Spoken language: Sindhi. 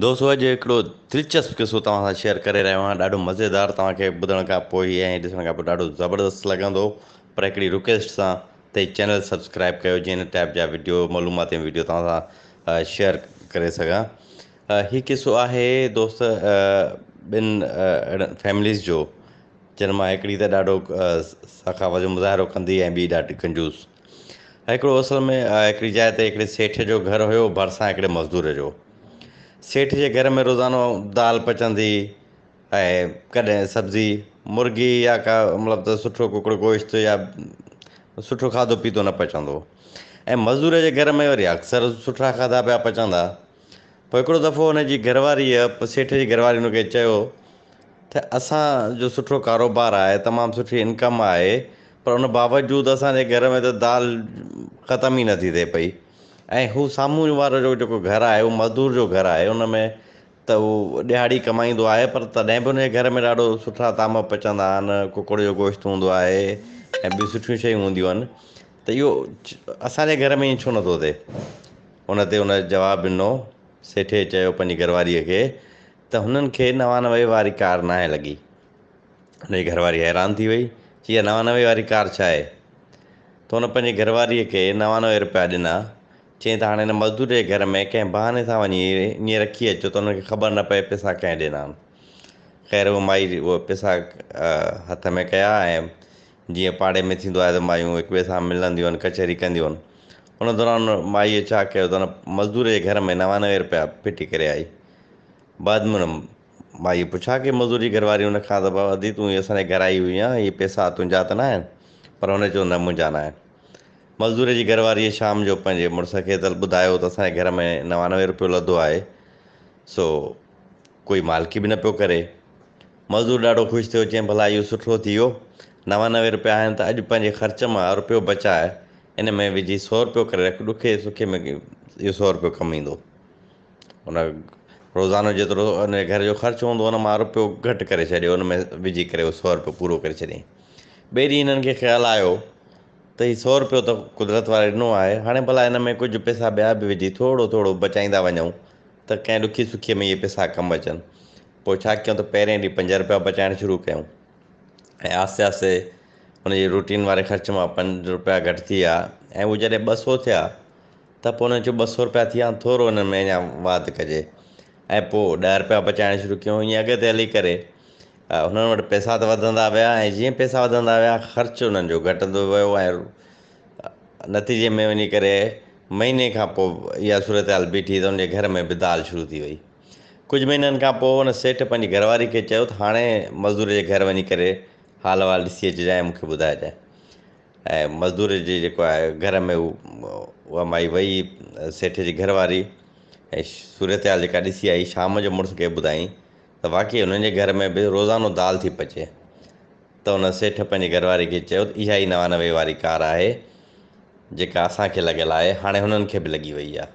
دوستو اڄ هڪڙو دلچسپ قصو توهان سان شيئر ڪري رهيو آهيان ڏاڍو مزيدار توهان کي ٻڌڻ کان پوء ۽ ڏسڻ کان پوء ڏاڍو زبردست لڳندو پر هڪڙي رڪويسٽ سان ته چينل سبسڪرائب ڪيو جيئن هن ٽائپ جا ويڊيو معلوماتي ويڊيو توهان سان شيئر ڪري سگهان هي قصو آهي دوست ٻن اهڙن فيمليز جو جن مان هڪڙي ته ڏاڍو سخاوت جو مظاهرو ڪندي ۽ ٻي ڏاڍي کنجوس هڪڙو اصل ۾ هڪڙي جاء تي هڪڙي سيٺ جو گهر هيو ڀرسان هڪڙي مزدور جو سيٺ جي گهر ۾ روزانو دال پچندي ۽ ڪڏهن سبزي مرغي يا ڪا مطلب ته سٺو ڪڪڙ گوشت يا سٺو کاڌو پيتو نه پچندو هو ۽ مزدور جي گهر ۾ وري اڪثر سٺا کاڌا پيا پچندا پوء هڪڙو دفعو هن جي گهر واريء، سيٺ جي گهر واريء هن کي چيو تھ اسان جو سٺو ڪاروبار آهي، تمام سٺي انڪم آهي، پر ان باوجود اسان جي گهر ۾ تھ دال ختم ئي نٿي ٿئي پئي ۽ هو سامهون وارو جو جيڪو گهر آهي، اهو مزدور جو گهر آهي، ان ۾ تھ هو ڏهاڙي ڪمائيندو آهي، پر تڏهن به ان جي گهر ۾ ڏاڍو سٺا طعام پچندا آهن، ڪڪڙ جو گوشت هوندو آهي ۽ ٻيون سٺيون شيون هونديون آهن، تھ اهو اسان جي گهر ۾ ائين ڇو نٿو ٿئي؟ ان تي هن جواب ڏنو، سيٺيء چيو پنهنجي گهرواريء کي ته هنن کي نوانوي واري ڪار ناهي لڳي. هن جي گهرواري حيران ٿي وئي، چي اها نوانوي واري ڪار ڇا آهي؟ ته هن پنهنجي گهرواريء کي نوانوي رپيا ڏنا، چيائين ته هاڻي هن مزدور جي گهر ۾ ڪنهن بهاني سان وڃي ائين رکي اچو ته هنن کي خبر نه پئي پئسا ڪنهن ڏنا آهن. خير هوء مائي اهي پئسا هٿ ۾ ڪيا ۽ جيئن پاڙي ۾ ٿيندو آهي ته مايون هڪ ٻئي سان ملنديون آهن ڪچهري ڪنديون آهن ان دوران مائيء ڇا ڪيو ته ان مزدور جي گهر ۾ نوانوي رپيا ڦٽي ڪري آئي بعد ۾ ان مائيء پڇا ڪي مزدور جي گهر واري ان کان ته بابا ادي تون هي اسان جي گهر آئي هئي آن هي پئسا تنهنجا ته نه آهن پر هن چيو نه منهنجا نه آهن مزدور جي گهر واريء شام جو پنهنجي مڙس کي ته ٻڌايو ته اسان جي گهر ۾ نوانوي رپيو لڌو آهي سو ڪوئي مالڪي به نه پيو ڪري مزور ڏاڍو خوش ٿيو، چيائين ڀلا اهو سٺو ٿي ويو، نوانوي رپيا آهن ته اڄ پنهنجي خرچ مان رپيو بچاء ان ۾ وجهي سؤ رپيو ڪري رک، ڏکي سکي ۾ اهو سؤ رپيو ڪم ايندو. ان روزانو جيترو ان جي گهر جو خرچ هوندو ان مان رپيو گهٽ ڪري ڇڏيو، ان ۾ وجهي ڪري اهو سؤ رپيو پورو ڪري ڇڏيائين. ٻئي ڏينهن هنن کي خيال آيو ته هي سؤ رپيو ته قدرت واري ڏنو آهي، هاڻي ڀلا ان ۾ ڪجهه پئسا ٻيا به وجهي ٿورو ٿورو بچائيندا وڃون ته ڪنهن ڏکي سکي ۾ اهي پئسا ڪم اچن. پوء ڇا ڪيون ته پهرين ڏينهن پنج رپيا بچائڻ شروع ڪيون ۽ آهستي آهستي ان جي روٽين واري خرچ مان پنج رپيا گهٽ ٿي ويا ۽ هو جڏهن ٻه سو ٿيا ته پوء ان چيو ٻه سو رپيا ٿي ويا ٿورو ان ۾ اڃا واڌ ڪجي ۽ پوء ڏهه رپيا بچائڻ شروع ڪيون ائين اڳتي هلي ڪري هنن وٽ پئسا ته وڌندا ويا ۽ جيئن پئسا وڌندا ويا خرچ انهن جو گهٽندو ويو ۽ نتيجي ۾ وڃي ڪري مهيني کان پوء اها صورتحال بيٺي ته ان جي گهر ۾ به دال شروع ٿي وئي ڪجهه مهينن کان پوء ان سيٺ پنهنجي گهر واري کي چيو ته هاڻي مزدور جي گهر وڃي ڪري حال احوال ڏسي اچجانء ۽ مون کي ٻڌائجانء ۽ مزدور جي جيڪو آهي گهر ۾ اها مائي وئي سيٺ جي گهر واري ۽ صورتحال جيڪا ڏسي آئي شام جو مڙس کي ٻڌائين ته واقعي هنن جي گهر ۾ به روزانو دال ٿي پچي ته ان سيٺ پنهنجي گهر واري کي چيو ته اها ئي نوانوي واري ڪار آهي جيڪا اسان کي لڳل آهي هاڻي هنن کي به لڳي وئي آهي